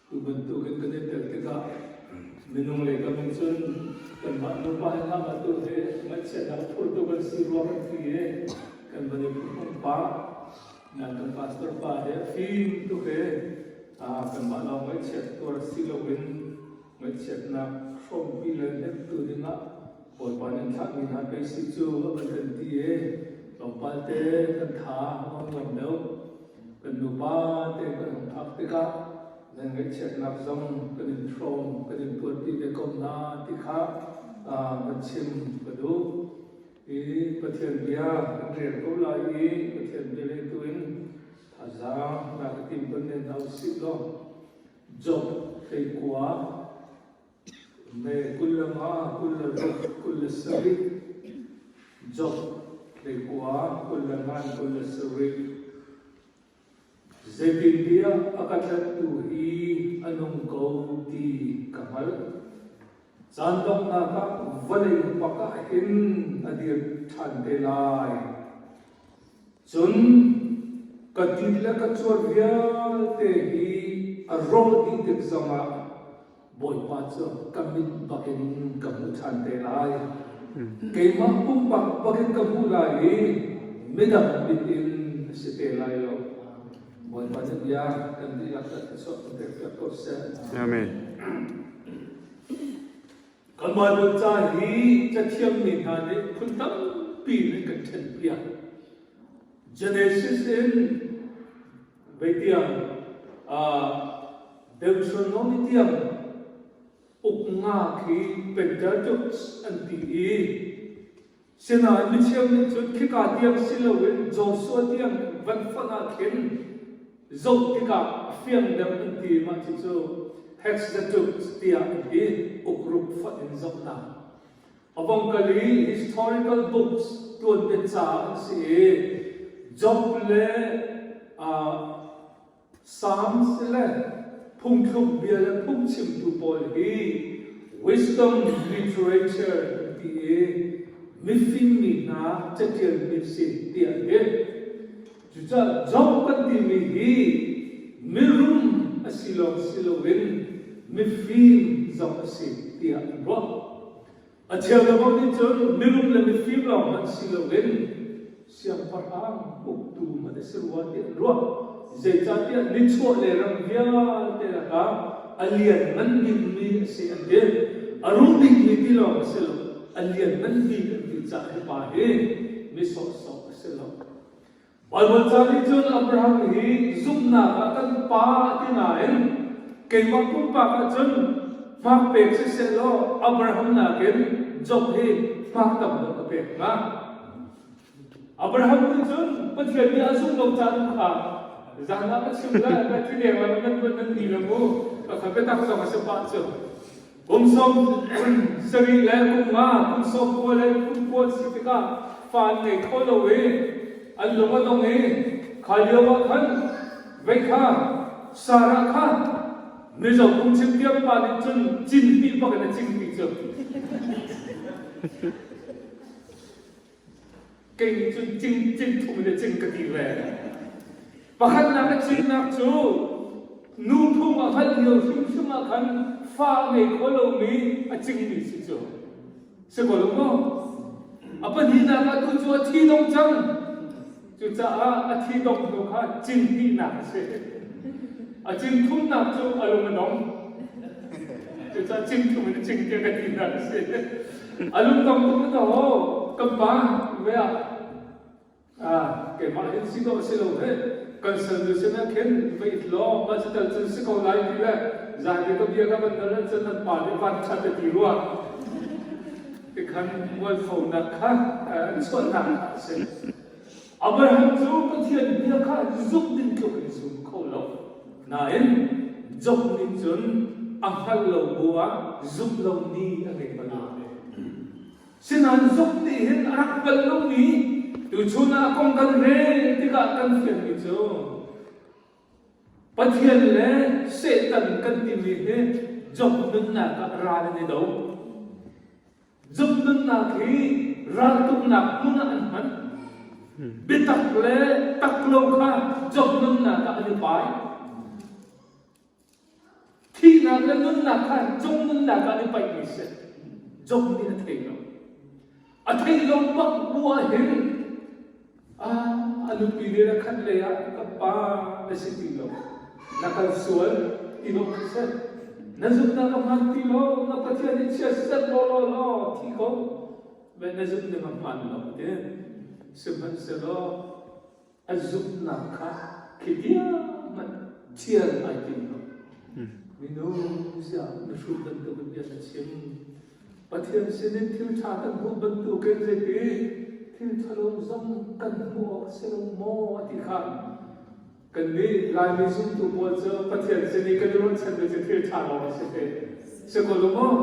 Tu bantukin kan i tel tikah minung le kam in cun kanmah nupa he hngakah tu he ngaihchiatnak phur tu kan si ruang an si i kan van i phungphung pa nan kan pastor pa he fim tu he kanmah lawng ngaihchiat tuar si loin ngaihchiatnak hrawmpi len hek tu dingah Bawipa nan thlahmi hna pei si cu a kan ti i tlawmpal te kan tha a ngam deuh Kan nupa te kan hung phak tikah nan ngaihchiatnak zong kan in hrawm, kan in buarpi ve ko hna ti kha va chim ka duh. I Pathian bia kan rel ko lai i Pathian bia rel tu in thazaang na ka tim ko ne hna usih law Job hleikua Kul le nga, kul le ruk, kul le sarih, jok le kua, kul le ngan, kul le sarih. Zeitintiah a ka tlanhtu hi a nung ko ti ka hngalh. Caan donghnak ah vawlei pakah hin a dir ṭhan te lai. Cun ka ti le ka cuat vialte hi a rawh dih tik zongah Bawipa cu ka mit bakin ka hmuh ṭhan te lai. Keimah pumpak bakin ka hmuh lai i midang mit in a si te lai lo. Bawipa nih bia kan dihlak kan i chuahter piak ko seh. Amen. Kanmah Bawi ca hi cathiam mi hna nih phun tampi in an kan ṭhenpiak. Genesis in Beitiang Deuteronomy tiang uknga khi Pentateuch an ti i sinain mithiam nih cun khika tiang si loin Joshua tiang van fonh ah khin zoh tikah a fiangdem an ti i mah cucu Hexadeut tiah an ti, ukruk fonh in zohnak. A vong kal i historical books ṭuanbet caah an si i Job le uh, Psalms le phungthluk bia le phungchimtu pawl hi wisdom literature an ti i mifingmi hna catialmi a si tiah a ti. Cucaah Job kan timi hi mirum a si lawng si loin mifim zong a si tiah an ruah. A cheukhat bang nih cun mirum le mifim lawng hmanh si loin siangpahrang uktu hmanh a si rua tiah an ruah. Zeicahtiah nichuah le ram vialte kha a lianngan bikmi a si an ti. A rum bikmi ti lawng a si lo, a lianngan bik an ti caah hi pa hi mi sawhsawh a si lo. Baibal ca nih cun Abraham hi zumhnak ah kan pa a ti nain keimah pumpak ah cun hmak pek sisehlaw Abraham nakin Job hi hmak tam deuh a pek hnga. Abraham nih cun Pathian nih a zumh lo caan kha zan ah a chim le Bethlehem ah nan nan ni le mu ka kha biatak zong a si pah cu. Kum sawm zarih le kum nga, kum sawm kua le kum kua si tikah fa an ngei kho lo i an lung a dong i kha lio ah khan vei kha Sarah kha mizo kum chim diam pa nih cun cin pi bak in a cin pi cu Kei nih cun cing cing thum in a cing ka ti ve. Pakhatnak a chimnak cu nu phung a hngalh lio hrimhrim ah khan fa a ngei kho lomi a cingmi si cu. Si ko lo maw? A pahnihnak ah tu cu a thi dong cang. Cucaah a thi dongh hnu kha cin hnihnak a si. A cin thumnak cu a lung a dong. Cucaah cin thum in a cin tiang a tinak a si. A lung dong tuk ka ho, kan pa ve ah ah keimah hin si dawh a si lo he kan salnu sinah khin va it law mah cutal cun si ko lai ti le zan i ka bia ka van dal ahcun nan pa nih van khat a ti rua tikhan mualphonak kha an chuahnak a si. Abraham cu Pathian bia kha zumh ding tluk in zum kho lo. Nain, Job nih cun a hngalh lo bu ah zumh lo ni a ngei bal lo ve. Sinain zumh nih hin a rak hngalh lomi, tuchun ah kong kan rel tikah kan fianmi cu, Pathian le Satan kan timi hi Job nunnak ah ral an i do. Job nunnak hi raltuknak hmun ah an hman. Biatak le tak lo kha Job nunnak ah an i pai. Thihnak le nunnak kha Job nunnak ah ni paihmi a si. Job nih a thei lo. A theih lo bak bu ahhin a nupi nih na khat lei ah ka pa na si ti lo. Na kal sual i lawmh seh. Na zumhnak a hmaan ti lo. Na Pathian nih chia set law law law thi ko. Na zumh ning a hmaan lo ti. Sihmanhsehlaw a zumhnak kha khitiahmanh ṭhial ai tim lo. Minu siang na hrut bantukin bia na chim. Pathian sinin thil ṭha kan hmuh bantukin zeiti thil ṭhalo zong kan hmuh awk a si lo maw ti kha kannih Laimi zumtu pawl cu Pathian sin i kan i ruahchan cu thil ṭha lawng a si ve. Si ko lo maw?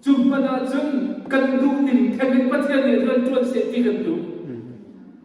Cu hmanh ahcun kan duh in then in Pathian nih rian ṭuan seh ti kan duh.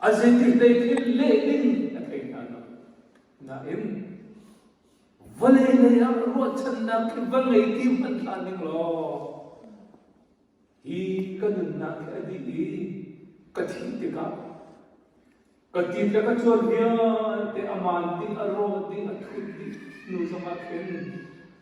A zeiti lei thil leh ding a thei hna lo. Nain, vale lei ah ruahchannak khi va ngei ti hmanh hlan ning law, hi ka nunnak hi a dih i ka thih tikah ka tit le ka cuan vialte a man ding, a rawt ding, a thut ding hnu zongah khin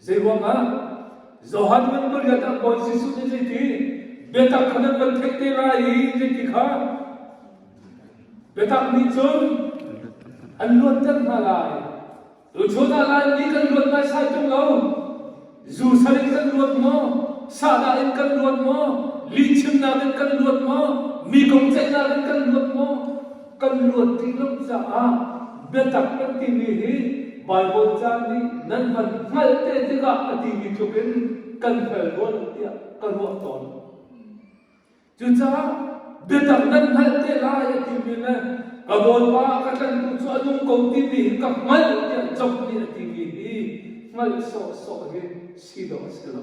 Zeiruangah Johan van Goliath ah Bawi Jesuh nih zeiti biatak kha nan van theih te lai i zeiti kha biatak nih cun an luatter hna lai. Tuchun ah Laimi kan luat naisai tung lo. Zu sal in kan luat maw? Sahdah in kan luat maw? Lihchimnak in kan luat maw? Mi kong ceihnak in kan luat maw? kan luat ti lo caah biatak kan timi hi Bible caan nih nan van hngalh te tikah a timi tluk in kan hngal rua tiah ka ruah tawn. Cucaah biatak nan hngalh te lai a timi le ka Bawipa ka tlanhtu cu a nung ko timi hi ka hngalh tiah zong nih a timi hi hngalh sawhsawh hi si dawh a si lo.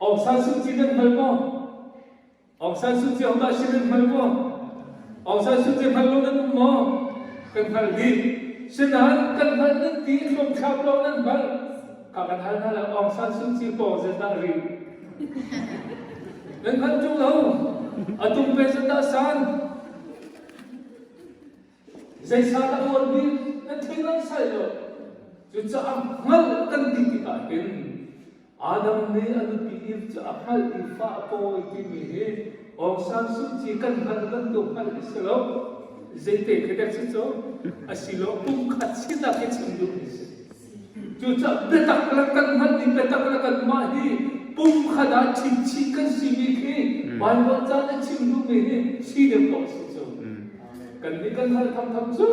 Aung San Suu Kyi nan hngal maw? Aung San Suu Kyi ahodah si nan hngal maw? Aung San Suu Kyi hngal lo nan um maw? Kan hngal dih. Sinahal kan hngalh nan ti, hlumchap lo nan hngalh. Ka kan hal hna lo Aung San Suu Kyi paw zetah ri. Nan hngalh ṭung lo. A tum pe zetah san. Zeisa ka tuan bik na thei lo sai lo cucaah hngalh kan ti tikah hin Adam nih a nupi Eve cu a hngalh i fa a pawi timi hi Aung San Suu Kyi kan hngalh bantuk hngalh a si lo zeite khi dek si cu a silo pumkhat si tak hi chim duh mi si Cucaah biatak le kan hngalh i biatak le kanmah hi pumkhat ah chimchih kan simi khi hmm. Baibal caan a chim duhmi hi si deuh ko si cu. Hmm. Kannih kan hngalh thamtham cu.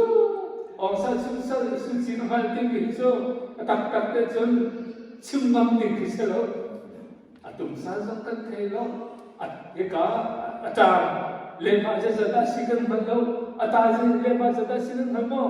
Ongsa chim sal sucin a hngalh ding hi cu a taktak te cun chim ngam ding khi si lo. A tumsal zong kan thei lo. Hika a tar lehmah zazat ah si kan hngal lo. A ta lehmah zazat si nan hngal maw?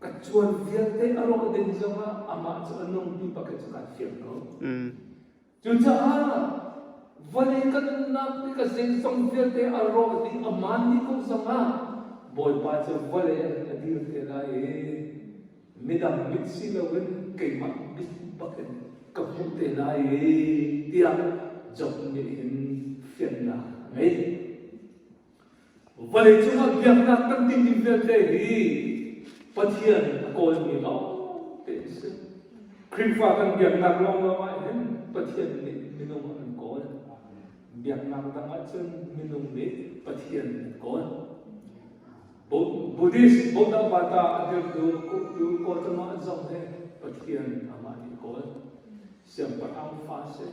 ka cuan vialte a rawh ding zongah amah cu a nungtu pakhat cu kaa fial ko. Mm. Cucaah vawlei ka nunnak ti ka zeizong vialte a rawh dih a maan dih ko zongah Bawipa cu vawlei ah hin a dir te lai i midang mit si loin keimah mit bakin ka hmuh te lai tiah Job nih hin fiannak a ngei. Vawleicung ah biaknak kan tih ding vialte hi Pathian a kawlmi lawngte an si. Khrihfa kan biaknak lawngluang ah hin Pathian nih minung a kan kawl. Biaknak dang ah cun minung nih Pathian an kawl. Buddhist Bodhavata a dirtu uktu Gautam ah zong he Pathian amah nih a kawl. Siangpahrang fa si,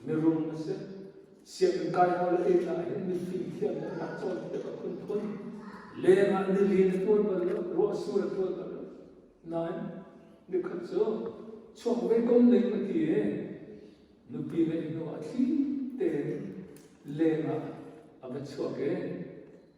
mirum a si. Sianginn kai lo le ei ah hin mithing thiam le nak cawn tik a phun phun. Leng ah nili na tuan bal lo, ruah su na tuan bal lo. Nain, nikhat cu chuak meikom ning a ti i nupi ngeih hnu ah thli tein leng ah a va chuak i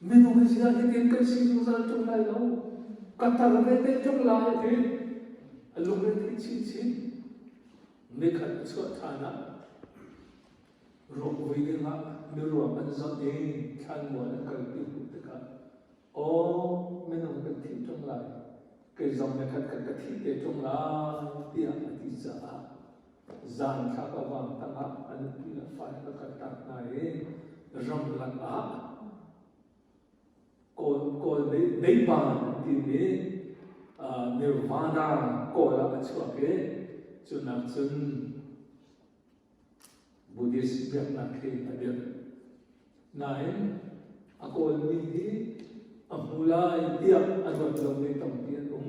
Minung hi zia hitin kan si zungzal ṭung lai lo. Ka tar ve te ṭung lai ti a lungrethi chinchin. Mikhat a chuah ṭhan ah ruakvui dingah miruak an zoh i thlanmual an kalpi hmuh tikah aw minung kan thih ṭung lai kei zong mikhat khat ka thih te ṭung lai tiah a ti caah Zaangthlak a vang tangah an pi le fale a kaltak hna i ramlak ah Kawl Beipa timi Nirvana kawl ah a chuak i cu nak cun Buddhist biaknak hi a dirh. Nain a kawlmi hi a hmu lai tiah a nuat lomi tampi an um.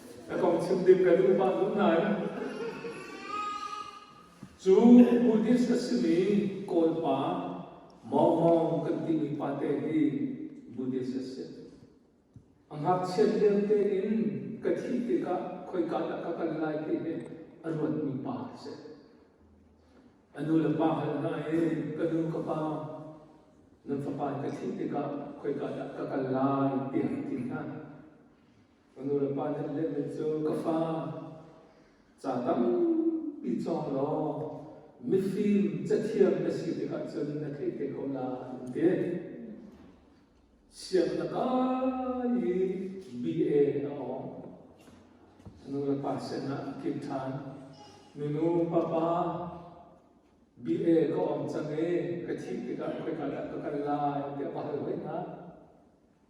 ka kong chim ding ka duh pah lo nain cu Buddhist a simi Kawlpa mawngmawng kan timi pate hi Buddhist a si. A ngakchiat lio tein ka thih tikah khoika dah ka kal lai ti hi a ruatmi pa a si. A nu le pa hal hna i ka nu ka pa nan fapa in ka thih tikah khoika dah ka kal lai tiah a ti hna. Ka nulepa nih an letlet cu, ka fa, ca tampi cawng law mifim cathiam na si tikah cun na theih te ko lai, an ti. Sianginn a kai i BA a awng. Nulepa sinah an kil ṭhan. Minu, papa, BA ka awng cang i ka thih tikah khoika dah ka kal lai tiah ka hal hoi hna.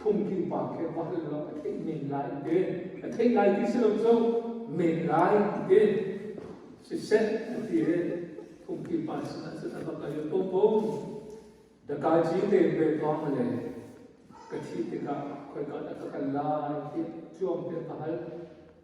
phungtling pa khe vahal lam a theih men lai an ti a theih lai ti si lo cu men lai an ti siseh a ti i phungtling pa sinah cun a va kal i popong dakaji te ve tong le ka thi tikah khoi ka dah ka kal lai tiah cuang te ka hal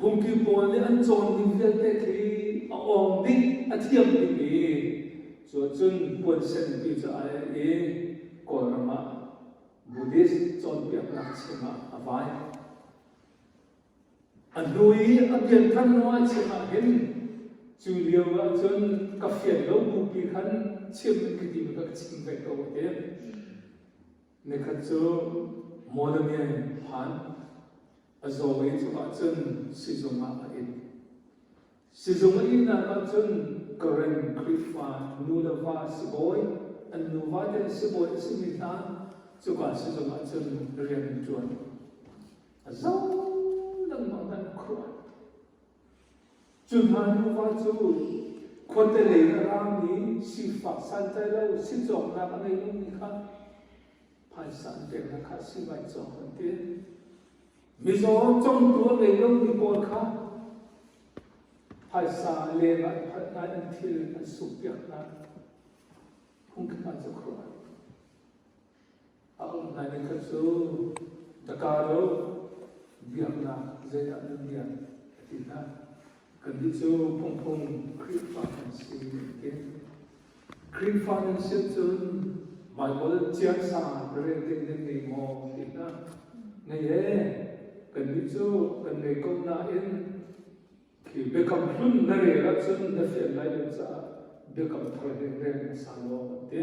Phungki pawl nih an cawn ning vialte khi a awng bik, a thiam bik i cu ahcun puansen ti cu a er i Kawlram ah Buddhist cawnpiak ngakchia ah a vai. A hnu i a pianthan lo ahcun ahhin cu lio ahcun ka fian lo bupi khan chim in khi ti ka chim ve ko a ti. Nikhat cu Monamian hlan a zawmi cu ahcun sizung ah a it. Sizung a ihnak ah cun Karen Khrihfa nu le va sibawi, an nu vate sibawi a simi hna cuka sizung ah cun rian an ṭuan. A zo lengmang in an khuh. Cu hna nuva cu khuate lei raraang nih sifak santlai lo sicawknak a ngei lomi kha phaisa an peknak kha sivai cawk an ti. Mizaw congtu a ngei lomi pawl kha phaisa lengah phatnai an thil an sukpiak hna. Hung khat cu Christ. A umnak inn khat cu da ka do biaknak zeidah na bia a ti hna. Kannih cu phungphung Khrihfa kan si an ti. Khrihfa nan si cun Baibal ciasa na rel ding nan ngei maw ti hna. Ngei e, kannih cu kan ngei ko nain khi biakam hlun na rel ahcun na fian lai lo caah biakam thar ding rel hmasa law an ti.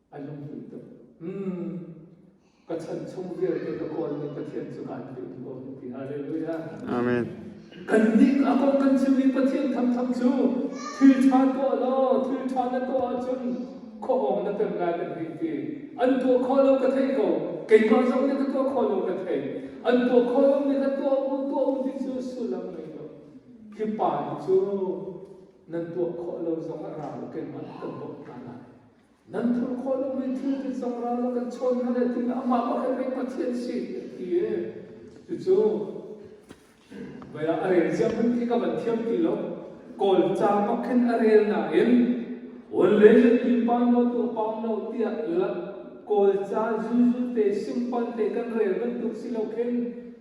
a lunghmuih tuk. Mm. Ka chan chung vialte ka kawlmi Pathian cu kaan philh ko ti. Halleluja. Amen. Kan nih a kong kan chimmi Pathian thangthang cu thil ṭha tuah law thil ṭha na tuah ahcun khuahawng na pek lai kan hei ti. An tuah khawh lo ka theih ko. Keimah zong nih ka tuah khawh lo ka theih. An tuah khawh lomi kha tuah u tuah u ti cu sullam ngei lo. Hi pa hi cu nan tuah khawh lo zong ah ra u keimah kan bawmh hna lai. nan thur khawh lomi thil te zong ral a kan chawn hna le tiin amah pakhat pek Pathian si a ti e cucu vaya a rel ziam hin ti ka van thiam ti lo kawl ca bak khin a rel na in wan le zet ni pan lo tu pawn lo tiah kawl ca zuzu te singpal te kan rel bantuk si lo khin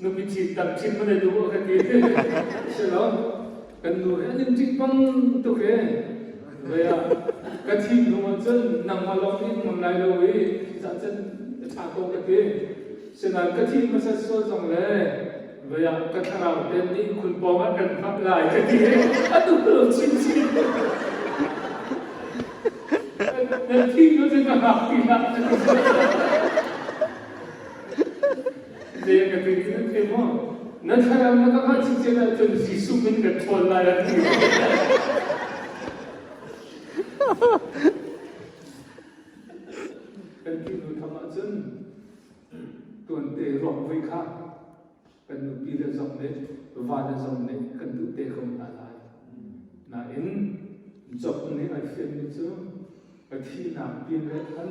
nupi thih tang thim va nei tu ka ti si lo kan nu he an in ṭih pang tuk he ve ah ka thim hnu ah cun nangmah lawng nih ngam lai lo i thihzah cun ka ṭha ko ka ti sinain ka thih hmasat sual zong le ve ah ka thlarau te nih khun pawng ah kan hngap lai ka ti a tuk lo chin chin nan thim nu cun ka hngak pi hlah Zen ka pe khin pe mo. Na thlarau na ka hngalh si cen ahcun Jesuh min ka ṭhawl lai an ti. Kan ti nu tham ahcun tuan te ruak voi kha kan nupi le zong nih va le zong nih kan duh te ko hna lai. Nain Job nih a fianmi cu a thihnak pin le khan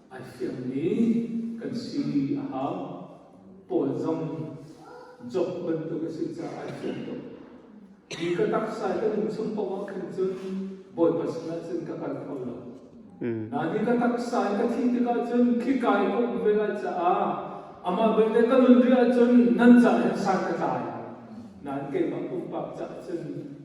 ai fiangmi kan si a hau. Paul zong Job bantuk a si caah ai fiang tuk. Hi ka taksa kan in chung paoh ah khin cun Bawipa sinah cun ka kal kho lo. Nain hi ka taksa i ka thih tikah cun khika i ka um ve lai caah amah belte ka nun rih ahcun nan ca hin san ka tlai. Nain keimah pumpak caah cun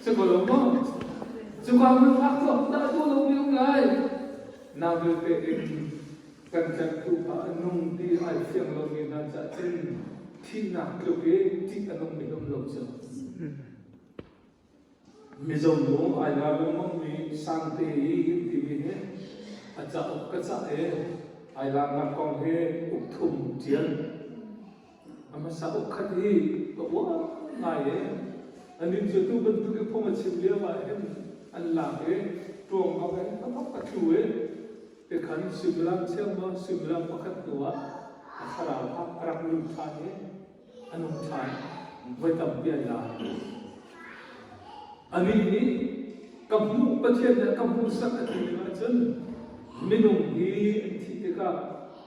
Sikolo mo, suka mun phak cho, da cho lo mi um lai. Na vil pe in kan tlek tu kha nung ti ai fiang lo mi hna cha chin thihnak tluk i ṭih a nung mi um lo cha. Mizong bu ai la bu mong mi sang te i him ti mi he a ca uk ka ca e ai la nak kong he uk thum ṭian A hmasa uk khat hi ka uar ngai e. Anih cu atu bantuk i phung a chim lio ahhin an lak i ṭuangau in hnathawk a tlu i tikhan suimilam chiangmang suimilam pakhat hnuah a thlarau kha a rak lut ṭhan i a nung ṭhan. Voi tampi an la. Anih nih ka hmuh Pathian nih a ka hmuhsak a ti ning ahcun minung hi an thih tikah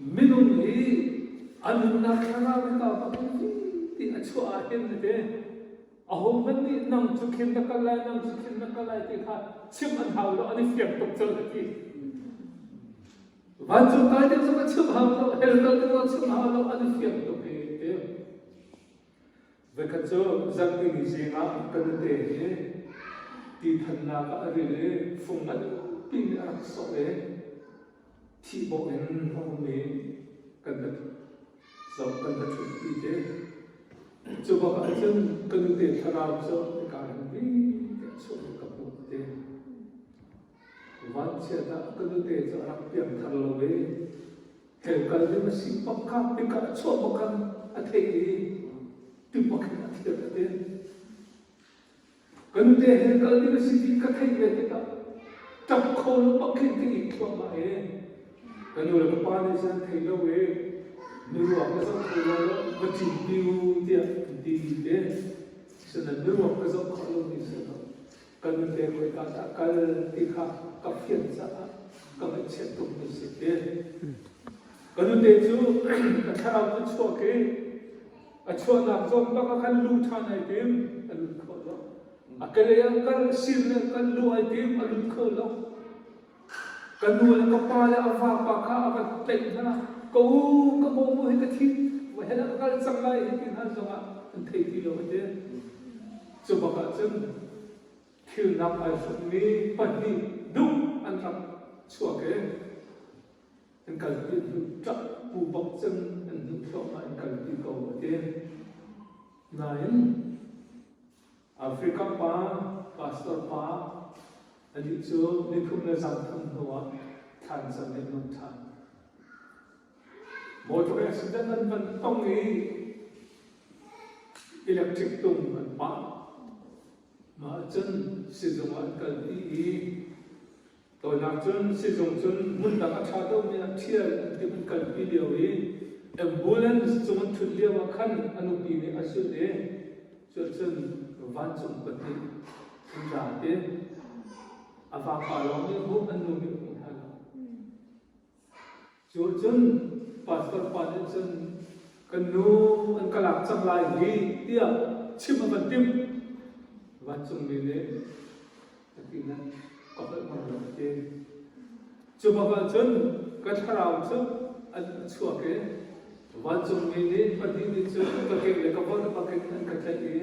Minung i a nunnak thlarau hi pa pakhat vipi a chuah ah hin a ve. Ahohmanh nih nang cu khin na kal lai, nang cu khin na kal lai ti kha chim an hau lo, an i fiang tuk cang a ti. Vancung kai ding zong a chim hau lo, hell kal ding zong a chim hau lo, an i fiang tuk i a ti. Zakhat cu zarhpini zing ah ka nute hi tithannak ah a ril i fung ngan piin a rak sawh i thihbawh in a um i kan va zoh kan va ṭhutpi ti. Cubak ah cun ka nute thlarau cu nika in vi te a chuah i ka hmuh ti. Vanchiatah ka nute cu a rak piang thar lo ve. Tleu kal ding a si bak kha, pika a chuah bak kha a theih i tupak in a thiat a ti. Ka nute he kal ding a si ti ka theih ve tikah ṭap kho lo bak in ka it thluahmah i ka nu le ka pa nih cun thei lo i miruak ka zoh kho lo lo va ṭin piu tiah an ti ti te. Sina miruak ka zoh khawh lo ni si lo. Kan nupe khoika dah a kal ti kha ka fian caah ka ngaihchiat tukmi si ti. Ka nute cu a thlarau cu chuak i a chuahnak zawn bak ah khan lu ṭhan ai tim, a lut kho lo. A kelei ah kal, sir le kal lu ai tim, a lut kho lo. Ka nu le ka pa le a vapa kha a va tlaih hna. Ko ka mawmu hi ka thi, vahel ah ka kal cang lai hi ti hna zongah an thei ti lo hi. Cu bakah cun thilnak ai hrukmi pahnih duh an rak chuak i an kalpi an hun ṭap pu bak cun an hun thluahmah in kalpi ko a ti. Nain Africa pa, pastor pa, anih cu nikum le zangthum hnu ah thansa nih an than. Motor accident an van tong i electric tung an pah. Mah cun sizung ah an kal i Tawinak cun sizung cun hmun dang a ṭha deuhmi ah ṭhial an ti hun kalpi lio i ambulance cung an ṭhut lio ah khan a nupi nih a zulh i cucun vancung pahnih an ra i a vafa lawng nih hmuh an nu nih hmuh hna lo. Cucun pastor pa nih cun kan nu an ka lak cang lai hih tiah chim a van timh. Vancungmi nih a tinak ka holh ngam lo a ti. Cubakah cun ka thlarau cu an ka chuak i vancungmi nih pahnih nih cun ka ke le ka volh bakin an ka tlaih i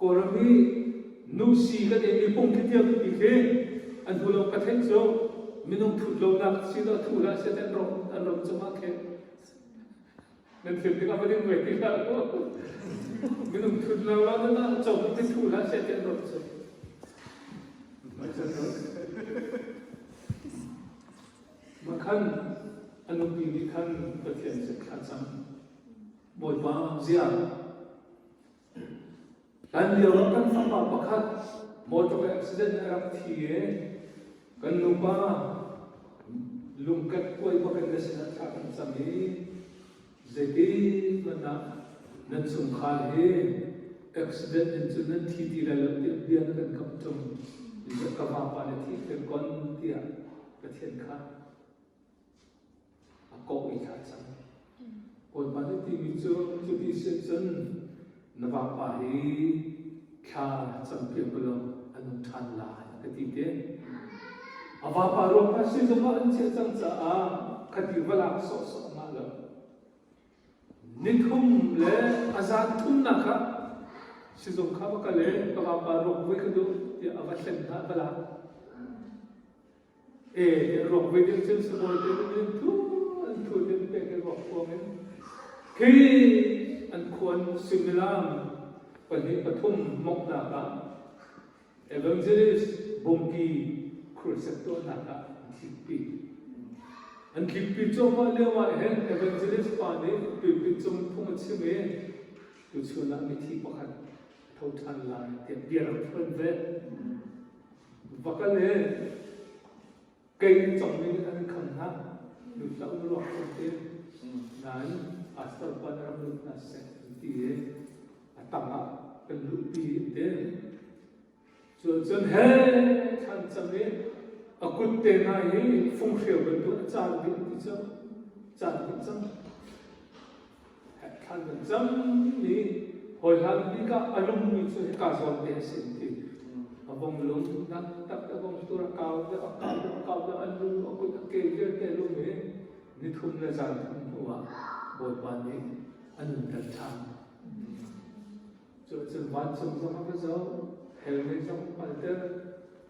Kawlram hi nusi kan ei mipung khitiang titi khi an hnu lo ka thenh cu minung thut lonak si to thu lah se an rom an rom cuma khe nan thil tik a va ding ve ti hlah minung thut lo la nan ah chom ti thu lah se an rom cu Makan anupi nih khan Pathian se khan sang Bawipa zia Hlanlio kan fapa pakhat motor accident ah a rak thi i kan nupa lungket kuai bak in na sinah thla kan cam i zeiti hmanh ah nan chungkhar hi accident in cun nan thi ti lai lo tiah bia na kan kamh ṭung ka vapa nih thih ka kon tiah Pathian kha a kawh i thlai cang. Bawipa nih timi cu cu ti si cun na vapa hi thla campiak u law an um ṭhan lai a ka ti te. A vapa ruangah sizung ah an chiah cang caah khati va lak sawhsawh ngah lo. Nithum le a zan thumnak ah sizung kha va kal i ka vapa ruak voi ka duh tiah a va thlen hna, a va lak. ropui ding thil si bawi te in thu an thu tin pe ke ruak kuang in khi an khuan sumilam pahnih pathum mok nak ah evangelist bongki crusade tuah nak ah an thlippi an thlippi cuahmah lio ah hin evangelist pa nih pipit cung phung a chim i tuchun ah mithi pakhat a tho ṭhan lai tiah bia rak phuan ve. Va kal e, kei nan congmi an an kham hna, lut hlah u ruak ṭung te. Nain, pastor pa na rak lut hna seh an ti i, a tangah kan luhpi te. Cun he thlancam i a kutte hna hi funghreu bantuk a caan dih an ti cang. Caan dih cang. Thlan kan cam ni hawihlan bik ah a lungmi cu hika zawngte a si ti. A vong lung nak tak a vong tur a kau deuh a kau deuh a kau deuh an lu a kut a ke vialte lum hi ni thum le zan thum hnu ah Bawipa nih a nun ter ṭhan. Cucun vancung zong a ka zoh, hellnei zong a hngalter.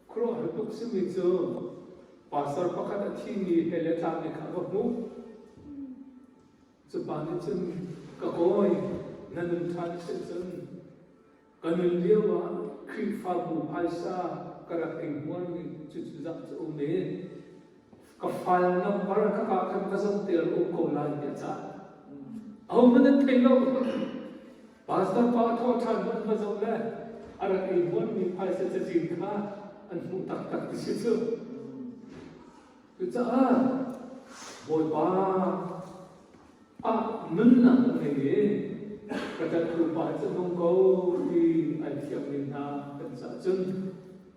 Khuaruahhar tuk simi cu pastor pakhat a thimi he le tlangmi kha ka hmuh. Cupa nih cun ka kawi na nun ṭhan si cun ka nun lio ah Khrihfabu phaisa ka rak ei hmuarmi cucu zah cu um e. ka file number a kak ah khan ka zamter a um ko lai tiah caan ahohmanh an thei lo. Pastor pa a thawh ṭhan hmanhma zong le a rak i nuammi phaisa cacin kha an hmuh taktak ti si cu. Cucaah Bawipa ah nunnak ka ngei i ka ṭathrupa cu nung ko ti an thiammi hna kan caah cun